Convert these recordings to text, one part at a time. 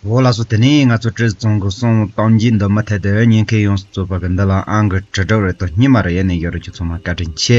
འོ་ལགས་སོ་དེ་ནས་ང་ཚོ་བཀྲས་བཙོང་གི་གསུང་གཏམ་གྱི་འདུན་མ་ཐད་དུ་ཉན་མཁན་ཡོངས་སུ་རྩོད་པ་གི་འདི་ལ་ཨང་གི་དྲི་བྲོ་རེད་དོ་སྙི་མ་རེད་ཡ་ནས་ཡོད་རེད་ཀྱི་ཚོང་མ་བཀའ་དྲིན་ཆེ།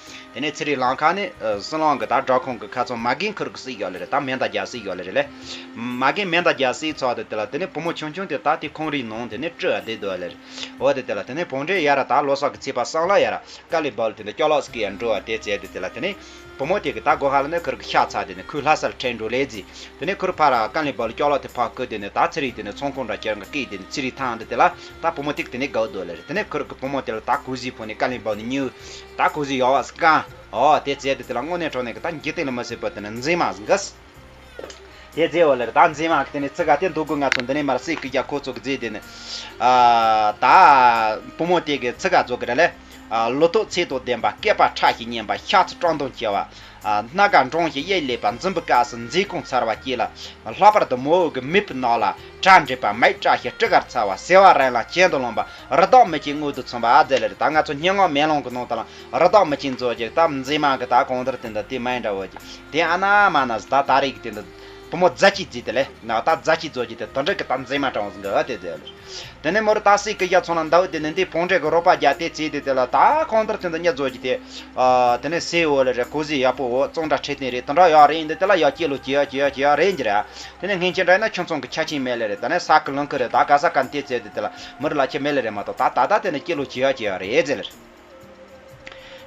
དེ་ནས་ཚེ་རིང་ལགས་ཁ་ནས། སྲིན་ལག་འགི་དག་བྲག་ཁུང་གི་ཁ་ཚོན་མ་རྒན་ཁུར་གི་སྲིད་ཡོད་ལེ་རེད་དམ་མེ་མདའ་རྒྱག་སྲིད་ཡོད་ལེ་རེད་ལེ། མ་རྒན་མེ་མདའ་རྒྱག་སྲིད་ཚོགས་དེ་དེ་ལ་དེ་ནས་བུ་མོ་ཆུང་ཆུང་དེ་དག་དེ་ཁོང་རིའི་ནང་དེ་ནས་བཀྲུ་བ་དེ་འདུག་ལེ་རེད། འོ་དེ་དེ་ལ་དེ་ནས་བོང་འདྲེ་ཡ་ར་དག་ལོ་སར་གི་ཚིས་པ་སང་ལ་ཡ་ར་དཀར་ལི་བལ་དེ་འདི་སྐྱོ་ལགས་སུ་ཀི་ཡ་འགྲོ་བ་དེ་བྱས་དེ་དེ་ལ་དེ་ནས། བུ་མོ་དེ་གི་དག་སྒོ་ཧ་ལ་ནས་ཁུར་གི་ཤ་ཚ་དེ་ནས་ཁོའི་ལྷ་སར་ཁྲེན་འགྲོ་ལེ་རྫི། དེ་ནས་ཁུར་ཕ་ར་དཀར་ལི་བལ་སྐྱོ་ལགས་དེ་ཕག་ཁུ་དེ་ནས་དག་ཚེ་རིང་དེ་ནས་ཚོང་ཁུང་འདྲ་ཁྱེར་འག་ཀི་དེ་ནས་ཚེ་རིང་ཐང་འདི་དེ་ལ་དག་བུ་མོ་དེ་གི་དེ་ནས་གའུ་འདུག་ལེ་རེད་དེ་ནས་ཁུར་གི་བུ་མོ་དེ་ལ་དག་ཀུ་ཟིའི་བུ་ནས་དཀར་ལི་བལ་ནས་ཉིའུ་ད་ཁོ་ཟིག་ཡོ་བ་ཟིག་གང། ཨོ། དེ་རྩེ་དེ་དེ་ལ་དངོས་གནས་གྲོ་ནས་གི་ད་འགྱིག་སྟེང་ལ་མི་སྲིད་པོ་དེ་ནི་འཛིན་མ་ཟིག་གིས། དེ་རྫས་བོ་ལེར་ད་འཛིན་མ་གི་དེ་ནི་ཚི་ག་དེ་འདུག་གོ་ང་ཚོ་འདི་ནས་མར་སྲིད་གི་རྒྱ་ཁོ་ཚོ་གི་རྫས་དེ་ནི། ད། བུ་མོ་དེ་གི་ཚི་ག་རྫོགས་གི་ར་ལས། ལོ་ཐོག་ཚེས་ཐོག་བདེན་པ་སྐད་པ་ཁྲ་ཞིག་སྙན་པ་ཤ་ཚ་སྤྲང་དུང་ཆེ་བ། སྣ་དགའ་འབྲོང་ཞིག་གཡས་ལེ་བ་འཛིན་པའི་སྐབས་སུ་མཛེས་ཀུན་ཚར་བ་སྐྱེས་ལ། ལྷག་པར་དུ་མོའུ་གི་མིད་པའི་ནང་ལ་བྲག་འདྲེས་པ་མེད་བཀྲ་ཤིས་སྤྲི་དཀར་ཚ་བ་ཟེ་བ་རན་ལ་གྱེན་དུ་ལངས་པ་རི་དྭགས་མི་གཅིག་མངོན་དུ་མཚོན་པ་ཨ་ཛེ་ལེ་རི་དྭགས་ང་ཚོ་སྙན་ངག་མེ་ལོང་གི་ནང་དུའང་རི་དྭགས་མི་གཅིག་མཛོད་ཅིག་ད་མཛེས་མ་གི་ད་གང་དེར་དེ་འདི་དེ་མའི་འདྲ་བོ་ཅིག་དེ་ཨ་ན་མ་ན་ཟི་ད་ད་རེ་གི་དེ་འདི། བུ་མོ་རྫ་སྐྱིད་རྫི་དེ་ལས་ནག་རྟ་རྫ་སྐྱིད་རྫོགས་རྗེས་དེ་དོན་དྲེག་གི་རྟ་འཛིན་མ་དྲང་བོ་ཟིན་གི་ཨ་དེ་རྫི་ལོ། དེ་ནས་མོ་རི་རྟ་སྲེག་གི་གཡའ་ཚོང་ལ་འདའ་འོ་དེ་ནས་འདིས་བོང་དྲེག་གི་རོགས་པ་བརྒྱ་དེ་བཙས་དེ་དེ་ལ་ད་གང་ལྟར་དོན་དུ་གཉའ་རྫོགས་རྗེས་དེ། དེ་ནས་སའི་འོ་ལ་རེ་ཁོ་ཟི་ཡག་པོ་འོ་བཙོང་འདྲ་ཁྲེལ་ཐེང་རེ་དོན་དྲག་ཡག་རེ་ཡིན་དེ་དེ་ལ་ཡག་སྐྱིད་ལོ་སྐྱིད་ཡག་སྐྱིད་ཡག་སྐྱིད་ཡག་རེ་ཡིན་གྱི་རེ་ཨ། དེ་ནས་སྔན་ཁྱེད་འདྲ་ཡིན་ན་ཁྱོད་ཚོང་གི་ཆ་ཆིངས་མེད་ལེ་རེ་ད་ནས་ས་ཀི་ལང་ཁི་རེ་ད་ག་ས་ག་ནི་དེ་བཙས་དེ་དེ་ལ་མོ་རི་ལ་ཁྱེད་མེད་ལེ་རེ་མ་ཏོག་ད་ད་ད་དེ་ནས་སྐྱིད་ལོ་སྐྱིད་ཡག་སྐྱིད་ཡག་རེ་བཙས་ལེ་རེ།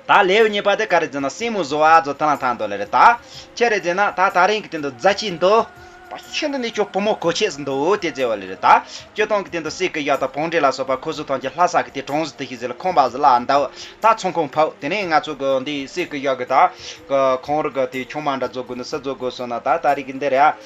ད་ལེའུ་གཉིས་པ་དེ་ག་རེ་ཟེར་ན་སྲིང་མོ་བཟོ་བ་བཟོ་ཐང་ལ་ཐང་འདོད་ལེ་རེད་ད། ཁྱེད་རེ་ཟེར་ན་ད་ད་རིང་གི་དེ་འདུག་རྫ་སྐྱིད་འདུག། ད་ཁྱེད་འདི་ནས་ཁྱོད་བུ་མོ་གོ་ཆས་སུ་འདུག་དེ་བརྩེ་བ་ལེ་རེད་ད། ཁྱོད་སྟོང་གི་དེ་འདུག་སྲིད་ཀི་གཡག་དང་བོང་འབྲས་ལ་སོགས་པ་ཁོ་སུ་ཐང་གྱི་ལྷ་ས་གི་དེ་གྲོང་གཟི་དུ་ཞིག་ཟེར་ལ་ཁོང་པ་གཟི་ལ་འདུག་ད་ཚོང་ཁང་ཕུག་དེ་ནས་ང་ཚོ་གི་འདི་སྲིད་ཀི་གཡག་གི་ད། གི་ཁོང་རི་གི་དེ་ཆུང་མ་འདྲ་བཟོ་དགོས་འདུག་སུ་བཟོ་དགོས་གསུངས་ན་ད་ད་རིག་གི་འདི་རེད་ཨ།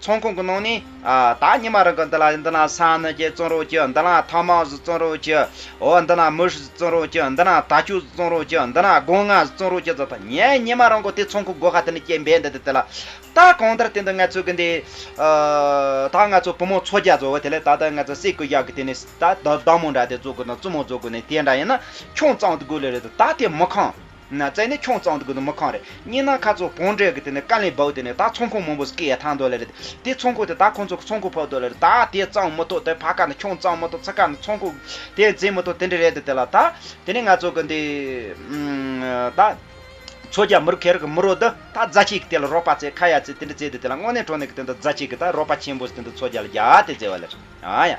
ཚོང་ཁང་གི་ནང་ནས། ད་ཉི་མ་རང་གི་འདི་ལ་འདི་ན་ས་ནི་རྒྱལ་བཙོང་རོགས་ཀྱི་འདི་ན་ཐང་མང་བཟོ་བཙོང་རོགས་ཀྱི། འོ་འདི་ན་མུ་ཧྲི་བཙོང་རོགས་ཀྱི་འདི་ན་ད་ཅུ་བཟོ་བཙོང་རོགས་ཀྱི་འདི་ན་སྒོང་ང་བཟོ་བཙོང་རོགས་ཀྱི་ཟེར་ད་ངས་ཉི་མ་རང་གི་དེ་ཚོང་ཁང་སྒོ་ཁ་དེ་ནས་སྐྱེལ་འབའ་འདི་དེ་དེ་ལ། ད་གང་ལྟར་དེ་འདི་ང་ཚོ་གི་འདི། ད་ང་ཚོ་བུ་མོ་ཚོ་རྒྱ་བཟོ་བ་དེ་ལས་ད་ལྟ་ང་ཚོ་སྲས་ཀུ་ཡག་གི་དེ་ནས་ད་བདག་མོ་འདྲ་དེ་བཙོ་དགོས་དང་བཙུན་མོ་བཙོ་དགོས་ནས་དེ་འདྲ་ཡིན་ན་ཁྱོང་ཙང་དགོས་ལེ་རེད་ད་དེ་མི་ཁང། ན་བཙལ་ནས་ཁྱོང་གཙང་དུ་དགོས་དོན་མི་གང་རེད་སྙིང་ནང་ཁ་ཚོ་བོང་འབྲས་གི་དེ་ནས་དཀའ་ལས་བག་དེ་ནས་ད་ཚོང་ཁོང་མང་པོ་སྐེ་ཡ་ཐང་འདོག་ལེ་རེད་དེ་ཚོང་ཁོ་དེ་ད་ཁོང་ཚོ་གི་ཚོང་ཁོ་ཕག་འདོག་ལེ་རེད་ད་དེ་གཙང་མི་ཐོག་དེ་ཕ་ཁ་ནས་ཁྱོང་གཙང་མི་ཐོག་ཚེ་ཁ་ནས་ཚོང་ཁོ་དེ་འཛིན་མི་ཐོག་དེ་འདྲ་རེད་དེ་དེ་ལ་ད་དེ་ནས་ང་ཚོ་གི་འདི་ད་ཚོ་རྒྱ་མི་རུ་ཁེ་རི་གི་མི་རོ་དི་ད་རྫ་ཆེ་གི་དེ་ལ་རོགས་པ་རྩེ་ཁ་ཡ་རྩེ་དེ་འདྲ་རྩེ་དེ་དེ་ལ་དངོས་གནས་གྲོ་ནས་གི་དེ་ད་རྫ་ཆེ་གི་ད་རོགས་པ་ཆེན་པོ་ཟེ་དེ་ད་ཚོ་རྒྱ་ལ་རྒྱ་ཨ་དེ་རྩེ་བ་ལེ་རེད་ཨ་ཡ།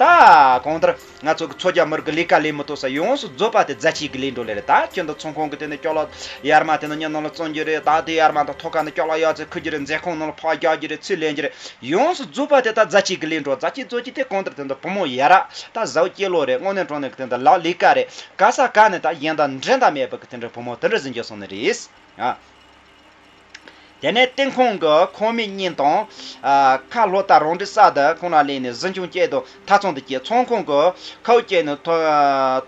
ད་གང་ལྟར་ང་ཚོ་གི་མཚོ་རྒྱ་མི་རིགས་ཀྱི་ལས་ཀ་ལས་མི་ཐོག་ས་ཡོངས་སུ་རྫོད་པ་དེ་རྫ་ཆས་ཀྱི་ལས་འགྲོ་ལེ་རེད་ད་ཁྱོད་འདི་ཚོང་ཁང་གི་དེ་ནི་སྐྱོག་ལ་ཡར་མ་དེ་ནི་གཉིད་ནང་ལ་བཙོན་རྒྱུ་རེད་ད་དེ་ཡར་མ་དང་ཐོག་ཁ་ནི་སྐྱོག་ལ་གཡག་རྩེ་འཁུར་རྒྱུ་རེད་མཛེས་ཁང་ནང་ལ་ཕག་རྒྱག་རྒྱུ་རེད་ཚུར་ལེན་རྒྱུ་རེད་ཡོངས་སུ་རྫོད་པ་དེ་ད་རྫ་ཆས་ཀྱི་ལས་འགྲོ་རྫ་ཆས་རྫོད་ཀྱི་དེ་གང་ལྟར་དེ་འདི་བུ་མོ་ཡ་ར་ད་བཟའོ་སྐྱེས་ལོ་རེད་དངོས་གནས་འབྲོག་ནས་ཀྱི་དེ་འདི་ལག་ལས་ཀ་རེད་ག་ས་ག་ནས་ད་གཞན་དང་འབྲེལ་ཟླ་མེད་པ་གི་དེ་འདྲའི་བུ་མོ་དེ་འདྲ་ཟིན་རྒྱུ་སོང་ནི་རེད་ཨ། དེ་ནས་སྟེང་ཁོང་གི་ཁོག་མིག་གཉིས་དང། ཁ་ལྷོ་རྟ་རོང་གྲི་ས་དེ་ཁོང་ན་ལེན་ནས་གཟི་མཆོང་བསྐྱལ་དུ་མཐའ་ཚོང་དུ་བསྐྱལ་ཚོང་ཁོང་གི་ཁའུ་བསྐྱལ་ནས་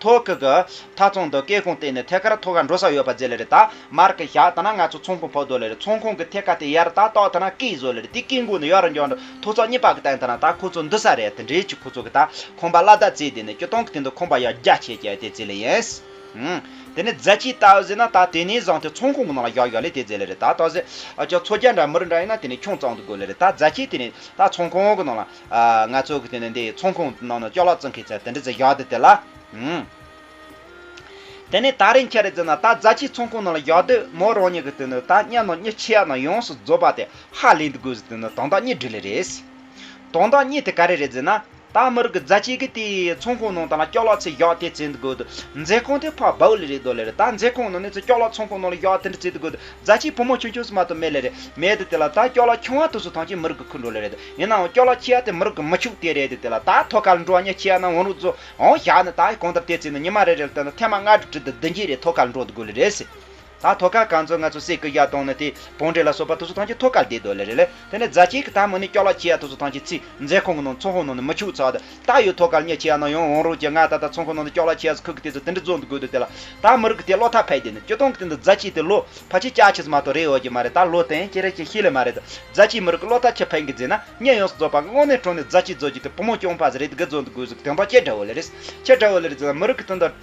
ཐོག་ཁུག་གི་མཐའ་ཚོང་དུ་བསྐལ་ཁོང་བསྟན་ནས་ཐད་ཁར་ཐོག་ཁ་འགྲོ་ས་ཡོད་པ་བཟོས་ལེ་རེད་ད་མར་ཁ་བཞག་ད་ན་ང་ཚོ་ཚོང་ཁོང་ཕོག་འདོད་ལེ་རེད་ཚོང་ཁོང་གི་ཐད་ཁ་དེ་ཡར་ད་ཏོག་ད་ན་སྐད་བཟོས་ལེ་རེད་དེ་སྐད་འགུག་ནས་ཡར་འགྱངས་འགྲོ་ཐོག་ཚོགས་གཉིས་པ་གི་སྟེང་ད་ན་ད་ཁོ་ཚོ་འདུ་ས་རེད་དེ་འདྲའི་ཆུ་ཁོ་ཚོ་གི་ད་ཁོང་པ་བླ་དྭགས་བརྩེགས་དེ་ནས་སྐྱོ་སྟོང་གི་སྟེང་དུ་ཁོང་པ་ཡར་རྒྱ་ཆེ་རྒྱ་ཡོད་དེ་བརྩེགས་ལེ་ཡིན། དེ་ནས་རྫ་ཆས་བལྟ་ཟེར་ན་ད་དེ་ནས་བཟང་སྟེ་ཚོང་ཁང་གི་ནང་ལ་བཞག་བཞག་ལས་དེ་རྫས་ལས་རེད་ད་ད་ཟེར། ཅོག་ཚོ་རྒྱ་འདྲ་མི་རིགས་འདྲ་ཡིན་ན་དེ་ནས་ཁྱུང་གཙང་དུ་དགོས་ལེ་རེད་ད་རྫ་ཆས་དེ་ནས་ད་ཚོང་ཁང་གི་ནང་ལ། ང་ཚོ་གི་དེ་ནས་འདི་ཚོང་ཁང་ནང་ན་ཅོག་ལག་རྩི་མཁན་ཚད་དེ་འདྲ་རྫས་བཞག་དེ་དེ་ལ། དེ་ནས་ད་རིན་ཁྱེད་རེད་ཟེར་ན་ད་རྫ་ཆས་ཚོང་ཁང་ནང་ལ་བཞག་དུས་མོ་རང་ཉིད་ཀྱི་དེ་ནས་ད་གཉའ་ནང་གཉིད་ཆེ་ཡག་ནང་ཡོངས་སུ་རྫོགས་པ་དེ་ཧ་ལས་འདི་དགོས་ཟེར་དེ་ནས་དོན་དག་གཉིས་འབྲི་ལེ་རེད། དོན་དག་གཉིས་དེ་ག་རེ་རེད་ཟེར་ན། ཏང་མི་རིགས་ཀྱི་རྫ་སྐྱེས་ཀྱི་དེའི་ཚོང་ཁང་ནང་ཏང་ལ་སྐྱོགས་ལག་ཚོས་གཡག་དེ་བཙལ་འདི་དགོས་འདུག་མཛེས་ཁང་དེ་ཕག་བོའུ་ལས་རེད་དོ་ལས་རེད་ད་མཛེས་ཁང་ནང་ནས་ཚོས་སྐྱོགས་ལག་ཚོང་ཁང་ནང་ལ་གཡག་དེ་འདྲ་བཙལ་འདི་དགོས་འདུག་རྫ་སྐྱེས་བུ་མོ་ཆུང་ཆུང་སུ་མ་ཏོ་མེད་ལས་རེད་མེད་དེ་དེ་ལ་ད་སྐྱོགས་ལག་ཁྱོད་ང་ཐུགས་སུ་ཐང་ཅིག་མི་རིགས་ཀྱི་ཁུར་འགྲོ་ལས་རེད་ཡིན་ནའང་སྐྱོགས་ལག་ཁྱི་ཡག་དེ་མི་རིགས་ཀྱི་མི་ཕྱུགས་དེ་རེད་དེ་དེ་ལ་ད་ཐོ་ག་ལ་འགྲོ་ཉེ་ཁྱི་ཡག་ནང་འོང་རོགས་གཙོ་འོང་བཞག་ནས་ད་གང་ལྟར་དེ་བཙལ་ནས་ཉི་མ་རེ་རེ་ལ་ལྟོས་ན་ཐེངས་མ་ལྔ་དྲུག་བྲིས་འདི་བདུན་བརྒྱད་རེ་ཐོ་ག་ལ་འགྲོ་འདི་དགོས་ལས་རེད། ད་ཐོ་ཀ་ག་ཚོད་ང་ཚོ་སེ་ཀི་ཡ་ཏོང་ནི་དེ་བོང་འབྲས་ལ་སོགས་པ་ཐུ་སུ་ཐང་གྱི་ཐོ་ཀར་བསྡད་འདོད་ལེ་རེད་ལེ་དེ་ནི་རྫ་སྐྱེས་ཀྱི་ད་མུ་ནི་སྐྱོ་ལ་ཁྱི་ཡ་ཐུ་སུ་ཐང་གྱི་ཚིས་མཛེས་ཁང་གི་ནང་ཚོང་ཧོ་ནང་ནི་མི་ཕྱུགས་ཚག་ད་ད་ཡོད་ཐོ་ཀར་ཉེ་ཁྱི་ཡ་ནང་ཡང་འོང་རོགས་ཀྱི་ང་ད་ད་ཚོང་ཁང་ནང་ནི་སྐྱོ་ལ་ཁྱི་ཡ་སུ་ཁུག་གི་དེ་ཚོ་དེ་འདྲི་རྫོགས་འདུག་དགོས་འདུག་དེ་ལ་ད་མི་རིགས་ཀྱི་དེ་བློ་ཐག་ཕེད་བསྡད་ནི་སྐྱོ་ཏོང་གི་དེ་འདི་རྫ་སྐྱེས་དེ་ལོ་ཕ་ཁྱི་སྐྱག་ཁྱི་ཟ་མ་ཏོ་རེད་ཡོད་ཀྱི་མ་རེད་ད་ལོ་དེང་ཁྱི་རེད་ཀྱི་ཤི་ལེ་མ་རེད་རྫ་སྐྱེས་མི་རིགས་ཀྱི་བློ་ཐག་ཁྱི་ཕེད་གི་རྫས་ན་ཉེ་ཡོངས་སུ་རྫོགས་པ་དངོས་གནས་དྲུང་ནས་རྫ་སྐྱེས་རྫོགས་རྒྱུ་དེ་བུ་མོ་སྐྱོང་ཕ་ཟེ་རེད་དགི་རྫོགས་འདུག་དགོས་ཟེ་དེང་ཕ་ཁྱི་འདྲ་བོ་ལེ་རེད་ཁྱི་འདྲ་བོ་ལེ་རེད་ཟེ་ན་མི་རིགས་ཀྱི་དེ་འདི་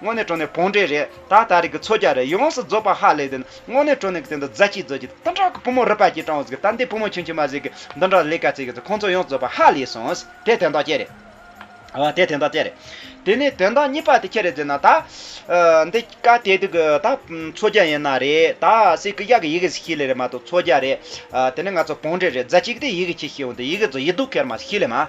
དངོས་གནས་བྲོ་ནས་བོང་འདྲེ་རེད་ད་ད་རེས་ཀྱི་མཚོ་རྒྱ་རེད་ཡོངས་སུ་རྫོགས་པ་ཧ་ལས་དེ་ནི་དངོས་གནས་བྲོ་ནས་ཀྱི་དེ་འདྲ་རྫ་སྐྱིད་རྫོགས་ཀྱི་སྟོང་ཕྲག་གི་བུ་མོ་རུ་པ་སྐྱིད་སྤྲང་བོ་ཟིག་ད་འདི་བུ་མོ་ཁྱོད་ཁྱོད་མ་ཟིག་གི་འདི་འདྲ་ལས་ཀ་བྱེད་ཀྱི་ཟིག་ཁོང་ཚོ་ཡོངས་རྫོགས་པ་ཧ་ལས་སོང་དེ་དོན་དག་ཅི་རེད། ཨ་དེ་དོན་དག་ཅི་རེད། དེ་ནས་དོན་དག་གཉིས་པ་དེ་ཁྱེད་རེད་ཟེར་ན་ད། འདི་སྐ་དེ་དུ་གི་ད་མཚོ་རྒྱ་ཡིན་ན་རེད་ད་སི་ཀི་གཡག་གི་ཡི་གེ་སི་ཤི་ལེ་རེད་མ་གཏོགས་མཚོ་རྒྱ་རེད། དེ་ནས་ང་ཚོ་བོང་འདྲེ་རེད་རྫ་སྐྱིད་ཀྱི་དེ་ཡི་གེ་ཁྱི་ཤི་འོང་དེ་ཡི་གེ་རྫོགས་ཡི་དུག་ཁེར་མ་སི་ཤི་ལེ་མ།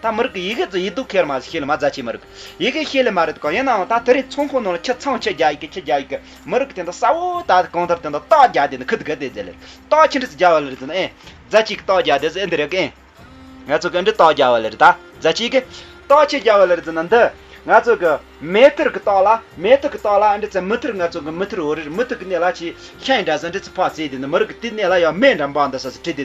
ད་མི་རིགས་ཀྱི་ཡི་གེ་ཙི་ཡིས་སྡུག་ཁེར་མ་ཟིག་ཤེས་ལ་མ་ཛ་ཆེ་མི་རིགས་ཡི་གེ་ཤེས་ལེ་མ་རེད་ག་ཡིན་ནའང་ད་དེ་རིང་ཚོང་ཁང་ནང་ལ་ཁྱི་ཚང་ཁྱི་རྒྱ་ཡི་གེ་ཁྱི་རྒྱ་ཡི་གེ་མི་རིགས་དེ་འདྲ་ས་བོ་ད་གང་ལྟར་དེ་འདྲ་སྟག་རྒྱ་དེ་འདྲ་ཁུ་དགའ་དེ་རྫས་ལེར་སྟག་ཁྱི་འདྲ་ཚི་རྒྱ་བ་ལེར་ཛི་ན་ཨེ་ཛ་ཆི་གི་སྟག་རྒྱ་དེ་ཟི་འདི་རེ་གི་ཨེ་ང་ཚོ་གི་འདྲི་སྟག་རྒྱ་བ་ལེར་ད་ཛ་ཆི་གི་སྟག་ཁྱི་རྒྱ་བ་ལེར་ཛི་ན་འདི་ང་ཚོ་གི་མེ་ཐིར་གི་སྟག་ལ་མེ་ཐི་གི་སྟག་ལ་འདྲི་ཚི་མི་ཐིར་ང་ཚོ་གི་མི་ཐིར་བོ་རེར་མི་ཐི་གི་གནས་ལ་ཆི་ཤ་ཡི་འདྲ་ཟི་འདྲི་ཚི་ཕག་ཚི་དེ་འདྲ་མི་རིགས་ཀྱི་དེའི་གནས་ལ་ཡང་མེ་འདྲ་འབག་འདི་ཟ་ཟི་ཁྲི་དེ་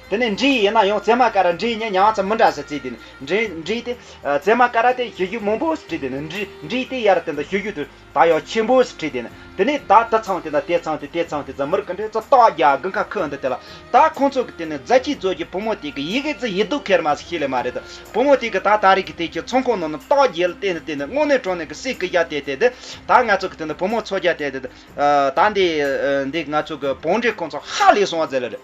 དེ་ནས་འབྲི་ཡི་ཡིན་ན་ཡང་བརྩེ་མ་ཀ་ར་འབྲི་ཡི་ཉན་མྱངས་ཙམ་མི་འདྲ་ཟེར་ཚེ་དེ་ནི་འབྲི་འབྲི་སྟེ། བརྩེ་མ་ཀ་ར་དེ་ཤེས་རྒྱུད་མང་པོ་ཟེར་བྲིས་དེ་ནི་འབྲི་འབྲི་སྟེ་ཡར་དེ་འདི་ཤེས་རྒྱུད་དུ་ད་ཡང་ཆེན་པོ་ཟེར་བྲིས་དེ་ནི་དེ་ནས་ད་དེ་ཚང་དེ་ན་དེ་ཚང་དེ་དེ་ཚང་དེ་རྫ་མུར་གི་འདྲེ་རྩ་སྟག་རྒྱ་དགུན་ཁ་ཁུ་འདི་དེ་ལ་ད་ཁོང་ཚོ་གི་དེ་ནི་རྫ་ཁྱི་རྫོ་ཁྱི་བུ་མོ་དེ་གི་ཡི་གེ་རྫི་ཡི་སྡུག་ཁེར་མ་ཟེར་ཤེས་ལེ་མ་རེད་དོ་བུ་མོ་དེ་གི་ད་ད་རིག་གི་དེ་ཁྱི་ཚང་ཁོང་ནང་ན་སྟག་རྒྱལ་དེ་ནི་དེ་ནི་སྔོན་ནས་གྲོང་ནས་གི་སྲས་གི་རྒྱ་དེ་དེ་དེ་ད་ང་ཚོ་གི་དེ་ནི་བུ་མོ་ཚོ་རྒྱ་དེ་དེ་དེ་ད་འདི་འདི་ང་ཚོ་གི་བང་འབྲེ་ཁོང་ཚོ་ཧ་ལས་སོང་ཟེར་ལེ་རེད།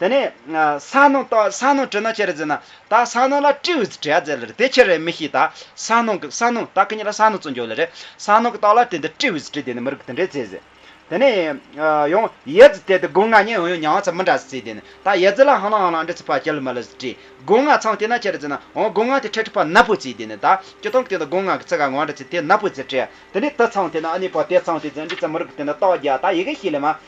དེ་ནས། ས་ནོ་རྟོག་ས་ནོ་དྲི་ནོ་ཅེ་རེ་ཛི་ན། ད་ས་ནོ་ལ་ཏྲི་ཝི་ཛི་ཏྲི་ཡ་ཛེ་ལ་རེ་དེ་ཁྱེར་རེ་མི་ཤིས་ད་ས་ནོ་གི་ས་ནོ་ད་ཁི་ཉི་ལ་ས་ནོ་ཙོ་འཇོ་ལ་རེ་ས་ནོ་གི་རྟོག་ལ་དེ་འདི་ཏྲི་ཝི་ཛི་ཏྲི་དེ་ནི་མི་རིག་དེ་འདྲེ་ཛེ་ཟེ། དེ་ནས། ཡང་ཡེ་ཛི་དེ་དི་སྒོ་ང་ཉེ་ཡང་ཡང་མྱང་བ་ཚ་མི་འདྲ་ཟི་ཙི་དེ་ནི་ད་ཡེ་ཛི་ལ་ཧང་ལང་ཧང་ལང་འདྲེ་ཚི་ཕ་ཅི་ལི་མ་ལི་ཟི་ཏྲི་སྒོ་ང་ཚང་དེ་ན་ཅེ་རེ་ཛི་ན་ཨོང་སྒོ་ང་དེ་ཁྲེ་ཁྲི་ཕ་ན་པུ་ཙི་དེ་ནི་ད་ཅི་ཐང་གི་དེ་ད་སྒོ་ང་གི་ཚི་ག་ངོ་འདྲེ་ཚི་དེ་ན་པུ་ཙི་ཏྲི་ཡ་དེ་ནི་དི་ཚང་དེ་ན་ཨ་ནི་ཕ་དེ་ཚང་དེ་ཛེ་འདྲེ་ཚི་མི་རིག་དེ་ནི་རྟོག་རྒྱ་ད་ཡི་གེ་ཤི་ལི་མ།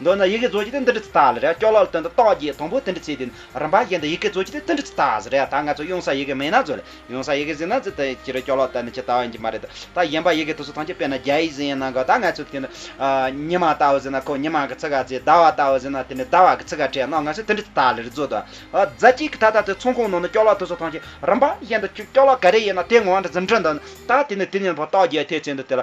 མདོར་ན་ཡི་གེ་རྫོགས་བྱེད་དེ་འདི་འདྲི་ཚུལ་དང་ལ་རེ་བ་སྐྱོ་ལག་ལ་སྟོན་ཏེ་རྟོག་བརྒྱའི་དང་པོའི་དེ་འདྲི་ཚུལ་དེ་རིམ་པ་བཞིན་དུ་ཡི་གེ་རྫོགས་བྱེད་དེ་འདི་འདྲི་ཚུལ་དང་ལ་རེ་བ་ད་ང་ཚོ་གཡུང་ས་ཡི་གེ་མིན་ན་རྫོགས་ལ་གཡུང་ས་ཡི་གེ་ཟིན་ན་རྫི་དེ་ཕྱིར་སྐྱོ་ལོག་ལྟ་ནི་ཇི་ལྟ་བ་ཡིན་གྱི་མ་རེད་དོ་ད་གཞན་པ་ཡི་གེ་དུ་སུ་ཐང་ཆད་དཔེར་ན་རྒྱ་ཡིག་ཟིན་ཡིན་ན་གོ་ད་ང་ཚོ་དེ་ནི་ཉི་མ་ལྟ་བུ་ཟིན་ན་ཁོ་ཉི་མ་གི་ཚིག་ག་རྫི་ཟླ་བ་ལྟ་བུ་ཟིན་ན་དེ་ནི་ཟླ་བ་གི་ཚིག་ག་དྲན་ནོ་ང་ཚོས་དེ་འདྲི་ཚུལ་དང་ལ་རེ་རྫོགས་དང་རྫ་གཅིག་གི་ད་ལྟ་དེ་ཚོང་ཁང་ནང་ནས་སྐྱོ་ལོག་དུ་སུ་ཐང་ཆད་རིམ་པ་བཞིན་དུ་སྐྱོ་ལོག་ག་རེ་ཡིན་ན་དེ་ངོ་བ་འདྲི་ཟིན་འདྲི་འདི་ནི་ད་དེ་ནི་དེ་ཉིད་ཕོ་རྟོག་བརྒྱའི་ཐེག་ཆེན་དུ་དེ་ལ་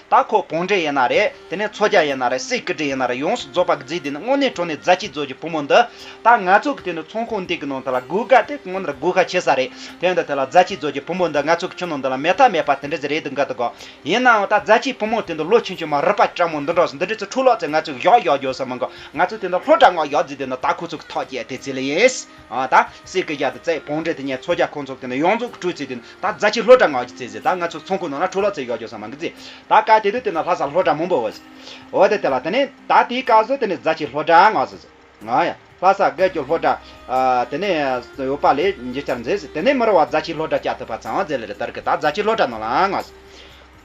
ད་ཁོ་གོང་འདྲེ་ཡིན་ན་རེད་དེ་ནས་མཚོ་རྒྱ་ཡིན་ན་རེད་སེ་སྐུ་དྲི་ཡིན་ན་རེད་ཡོངས་སུ་རྫོགས་པ་བརྫིས་དེ་ནས་དངོས་གནས་གྲོ་ནས་རྫ་ཆི་རྫོད་ཀྱི་བུ་མོ་འདི་ད་ང་ཚོ་གི་དེ་ནས་ཚོང་ཁང་འདི་གི་ནང་དེ་ལ་གུག་དགའ་དེ་ཁོང་ནར་གུག་ཧ་ཆེ་ས་རེད་དེ་འདི་དེ་ལ་རྫ་ཆི་རྫོད་ཀྱི་བུ་མོ་འདི་ང་ཚོ་གི་ཆུ་ནང་འདི་ལ་མེ་ཐ་མེད་པ་དེ་འདྲ་ཟེ་རེད་འདུག་འགའ་དུ་གོ་ཡིན་ནའང་ད་རྫ་ཆི་བུ་མོ་དེ་འདི་ལོ་ཆུང་ཆུང་མ་རུ་པ་སྤྲ་མོ་འདི་འདྲ་སོ་འདི་འདྲ་ཚོ་འཁྲུག་ལོག་ཚེ་ང་ཚོ་གི་གཞོག་གཞོག་རྒྱོ་ས་མི་འགོ་ང་ཚོ་དེ་འདི་ལྷོ་བྲག་ངོགས་ཡོག་རྫི་དེ་འདི་ད་ཁོ་ཚོ་གི་ཐོག་བརྒྱད་དེ་ཚེ་ལ་ཡིན། ད། སེར་སྐྱ་རྒྱ་དང་རྩེ་གོང་འབྲེལ་དེ་ཉེར་ཚོ་རྒྱ་ཁོ་ཚོ་དེ་ནས་ཡོངས་རྫོགས་ཀྱི་སྤྲུལ་རྩེ་དེ་ད་རྫ་ཆེ་ལྷོ་བྲག་ནག་གི་རྩེ་ཟེར་ད་ང་ཚོ་ཚོང་ཁུག་ནང་ན་ཁྲུ་ལོ་རྩེ་ཡོད་ཀྱོ་ས་མང་གི་རྩེ་ད་སྐད་དེ་དུས་དེ་ནས་ལྷ་ས་ལྷོ་བྲག་མུན་པོ་འོད་ཟེར་འོད་ཟེར་དེ་ལ་དེ་ནས་ད་དེའི་བཀའ་ཟུར་དེ་ནས་རྫ་ཆེ་ལྷོ་བྲག་ནག་ཟེར་ང་ཡ་ལྷ་ས་སྐད་ཀྱོ་ལྷོ་བྲག་དེ་ནས་ཡོད་པ་ལས་འཇིག་ཆར་མཛེས་ཟེར་དེ་ནས་མི་རོ་བ་རྫ་ཆེ་ལྷོ་བྲག་སྐྱ་ཐུབ་པ་ཚང་བ་རྫེ་ལེ་རི་དར་ཁི་ད་རྫ་ཆེ་ལྷོ་བྲག་ནོར་ལང་ནག་ཟེར།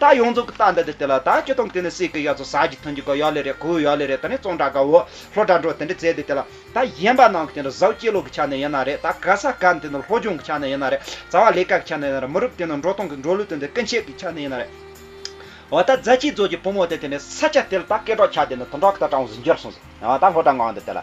རྟགས་ཡོངས་རྫོགས་ཀྱི་རྟགས་འདི་དེ་དེ་ལ་དང་ཁྱོད་དང་དེ་ནི་སྲས་ཀྱི་ཡ་ཚོ་ཟག་གི་ཐུན་གྱི་གོ་ཡ་ལེ་རེ་གོའུ་ཡ་ལེ་རེ་ད་ནི་བཙོང་དྲག་གའོ་ལྷོ་དྲག་འགྲོ་དེ་འདྲི་རྩེ་དེ་དེ་ལ་ད་ཡན་པ་ནང་གི་དེ་ནི་ཟག་བཅས་ལོག་གི་ཆ་ནས་ཡན་ན་རེ་ད་ག་ས་ག་ནི་དེ་ནི་ལྷོ་སྦྱོང་གི་ཆ་ནས་ཡན་ན་རེ་རྩ་བ་ལས་ཀ་གི་ཆ་ནས་ཡན་ན་རེ་མི་རུབ་དེ་ནི་འགྲོ་སྟངས་གི་འགྲོ་ལུགས་དེ་འདི་ཀུན་བྱེད་ཀྱི་ཆ་ནས་ཡན་ན་རེ། བ་ད་རྫ་ཆེན་རྫོགས་ཀྱི་བུ་མོ་དེ་དེ་ནི་ས་ཆ་དེ་ལ་ད་སྐད་གྲགས་ཆ་དེ་ནི་དུང་དྲག་གི་ད་གྲང་བ་ཟིན་རྒྱུར་གསུངས་སོ། བ་ད་ལྷོ་དྲག་འགའ་འདི་དེ་ལ།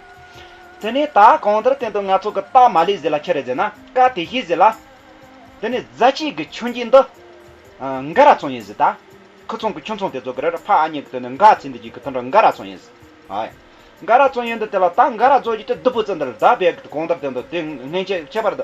དེ་ནས་ད་གང་ལྟར་དེང་དུ་ང་ཚོ་གི་སྟག་མ་ལས་ཟེར་ལ་ཁྱི་རེ་ཟེར་ན་ཀ་དེ་ཤེས་ཟེར་ལ། དེ་ནས་རྫ་སྐྱིད་ཀྱི་ཆུ་འགྱིག་འདི། འགའ་ར་ཚོང་ཡིན་ཟེར་ད། ཁུ་ཚོང་གི་ཁྱུ་ཚོང་དེ་ཚོ་གི་རེར་ཕ་ཨ་མྱེས་ཀྱི་དོན་དུ་འགའ་ཚིག་འདི་ཅིག་གི་དོན་དུ་འགའ་ར་ཚོང་ཡིན་ཟེར། འགའ་ར་ཚོང་ཡིན་འདི་དེ་ལ་ད་འགའ་ར་ཚོང་ཡིན་ཏེ་བདུད་པོ་ཙི་འདི་ལ་ད་བས་ཀྱི་དུ་གང་ལྟར་དེང་དུ་དེ་སྔན་ཁྱད་པར་དུ།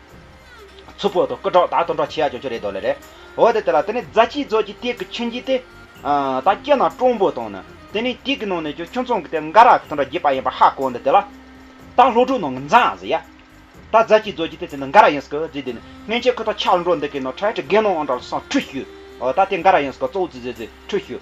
ཚུར་ཕོག་ཐོག་སྐུ་དྲག་དག་དོན་དྲག་ཆེ་ཡག་ཀྱང་ཆོ་རེ་དོ་ལེ་རེད། འོ་དེ་དེ་ལ་དེ་ནས་རྫ་སྐྱིད་རྫོགས་ཀྱི་སྟེགས་ཀྱི་མཆོད་མཇིང་དེ། ད་སྐྱེ་ན་སྤྲང་པོ་དང་ནི། དེ་ནས་སྟེགས་ཀྱི་ནང་ནས་ཀྱང་ཁྱོད་ཚང་གི་དེ་འགའ་རག་གི་དོན་དྲག་རྒྱས་པ་ཡིན་པ་ཧ་གོ་འདི་དེ་ལ། ད་ལྷོ་དྲུག་ནང་གི་འཛའ་ཟེ་ཡ། ད་རྫ་སྐྱིད་རྫོགས་ཀྱི་སྟེགས་དེ་འདི་འགའ་རག་ཡིན་སྲིད་ཀི་རྫི་དེ་ནི་སྔན་ཆད་ཁོས་ད་ཆགས་འགྲོ་འདི་གའི་ནང་ཁྲལ་ཁྲི་རྒན་ནོ་འང་དྲག་ལ་སང་ཁྲུས་ཞུས། ད་དེ་འགའ་རག་ཡིན་སྲིད་ཀི་གཙོ་བོ་རྫི་རྫི་རྫི་ཁྲུས་ཞུས།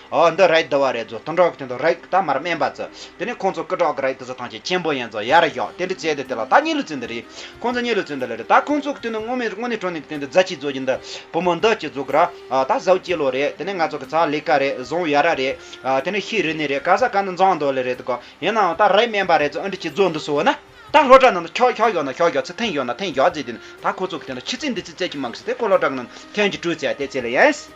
ཨོ་འདི་རེད་འདི་བ་རེད་ཛོ་སྟོང་གྲོགས་ཀྱི་དོན་དུ་རེག་ད་མར་སྨན་པ་ཛོ་དེ་ནས་ཁོང་ཚོ་ཀི་གྲོགས་ཀྱི་རེག་ད་ཛོ་ཐང་ཆེན་ཆེན་པོ་ཡིན་ཛོ་ཡར་བཞག་དེ་འདྲི་བྱས་ཏེ་དེ་ལ་ད་གཉིད་ལུས་ཚོད་འདི་རེད་ཁོང་ཚོ་གཉིད་ལུས་ཚོད་འདི་ལ་རེད་ད་ཁོང་ཚོ་ཀྱི་དོན་དུ་དངོས་དངོས་གནས་གྲོང་ནས་ཀྱི་དོན་དུ་རྫ་ཆི་ཛོ་ཀྱི་འདི་བུ་མོ་འདི་ཀྱི་ཛོ་ཀི་ར་ཨ་ད་ཟའུ་ཀྱི་ལོ་རེད་དེ་ནས་ང་ཚོ་ཀི་ཚ་ལི་ཀ་རེད་ཟོང་ཡ་ར་རེད་ཨ་དེ་ནས་ཤི་རི་ནི་རེད་ཀ་ཟ་ཀ་འདི་འཛང་འདོ་ལི་རེད་ཀོ་ཡིན་ནའང་ད་རེག་སྨན་པ་རེད་ཛོ་འདྲི་བྱེད་ཛོ་འདི་སོ་ན་ད་ལྷོ་བྲག་ནང་དུ་ཁྱོག་ཁྱོག་ཡོད་ན་ཁྱོག་ཡོད་ཚེ་ཐེངས་ཡོད་ན་ཐེངས་ཡོད་ཛེ་དེ་ནས་ད་ཁོ་ཚོ་ཀྱི་དོན་དུ་ཕྱི་ཚེས་འདི་ཚེས་བརྩད་ཀྱི་མང་ཁི་ཚེ་ཁོ་ལྷོ་བྲག་ནང་དུ་ཐེངས་གཅིག་དྲུས་བརྩད་དེ་ཚེ་ལ་ཡིན།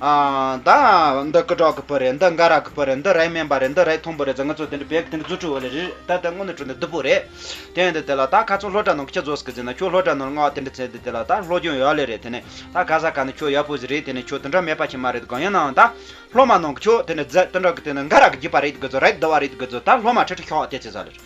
ད་འདི་སྐུ་དྲག་གི་བུ་རེད་འདི་འགའ་རག་གི་བུ་རེད་འདི་རའི་སྨན་པ་རེད་འདི་རའི་ཐུམ་བུ་རེད་ཟེར་ང་ཚོ་དེ་འདྲ་བེད་ཀི་དེ་འདྲ་རྫུ་འཕྲུལ་བ་ལས་རེད་ད་དེ་དངོས་གནས་འཕྲུལ་འདི་བདུད་པོ་རེད་དེ་ཡིན་དེ་དེ་ལ་ད་ག་ཚོད་ལྷོ་བྲག་ནང་གི་ཁྱི་རྫོགས་སུ་གི་ཟིན་ན་ཁྱོད་ལྷོ་བྲག་ནང་ལ་སྔ་བ་དེ་འདྲ་ཚེ་འདི་དེ་ལ་ད་ལྷོ་རྒྱུན་ཡག་ལེ་རེད་དེ་ནས་ད་ག་ས་ག་ནས་ཁྱོད་ཡག་པོ་ཟིག་རེད་དེ་ནས་ཁྱོད་དེ་འདྲ་མེད་པ་ཆེ་མ་རེད་གང་ཡིན་ནའང་ད་ལྷོ་མ་ནང་གི་ཁྱོད་དེ་འདྲ་རྫ་དེ་འདྲ་གི་དེ་འདྲ་འགའ་རག་གི་བརྒྱུད་པ་རེད་དགོས་ཚོད་རེད་དུ་བ་རེད་དགོས་ཚོད་ད་ལྷོ་མ་ཁྲི་ཁྲི་ཤོག་དེ་ཚེ་ས་ལེ་རེད།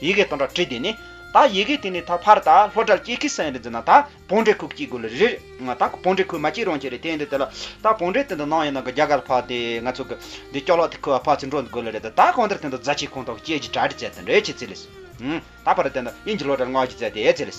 ཡི་གེ་དང་སྒྲ་བྲིས་དེ་ནི། ད་ཡི་གེ་དེ་ནི་ད་ཕར་ད་ལྷོ་དགྲ་བགེགས་ཀྱི་སེང་རི་འཛིན་ན་ད་བོང་འདྲེ་ཁུག་གཅིག་དགོས་ལ་རིར། ང་ད་བོང་འདྲེ་ཁུག་མ་གཅིག་རང་ཁྱེར་རེད་དེ་འདི་དེ་ལ། ད་བོང་འདྲེ་དེ་འདི་ནང་ཡོད་ནང་གི་རྒྱ་གར་ལ་ཕག་དེ་ང་ཚོ་གི། འདི་སྐྱོག་ལག་དེ་ཁུ་བ་ཕག་ཚིག་འགྲོ་འདི་དགོས་ལ་རེད་ད་གང་ལྟར་དེ་འདི་རྫ་ཆེའི་ཁོངས་གཏོགས་ཀྱི་སྐྱེས་ཀྱི་གྲ་འདྲི་བཙལ་དེ་འདྲའི་ཆེ་ཚིག་ལས། ད་ཕར་ད་དེ་འདི་དབྱིན་ཇི་ལོ་གྲ་སྔགས་ཀྱི་རྫས་དེའི་ཚིག་ལས།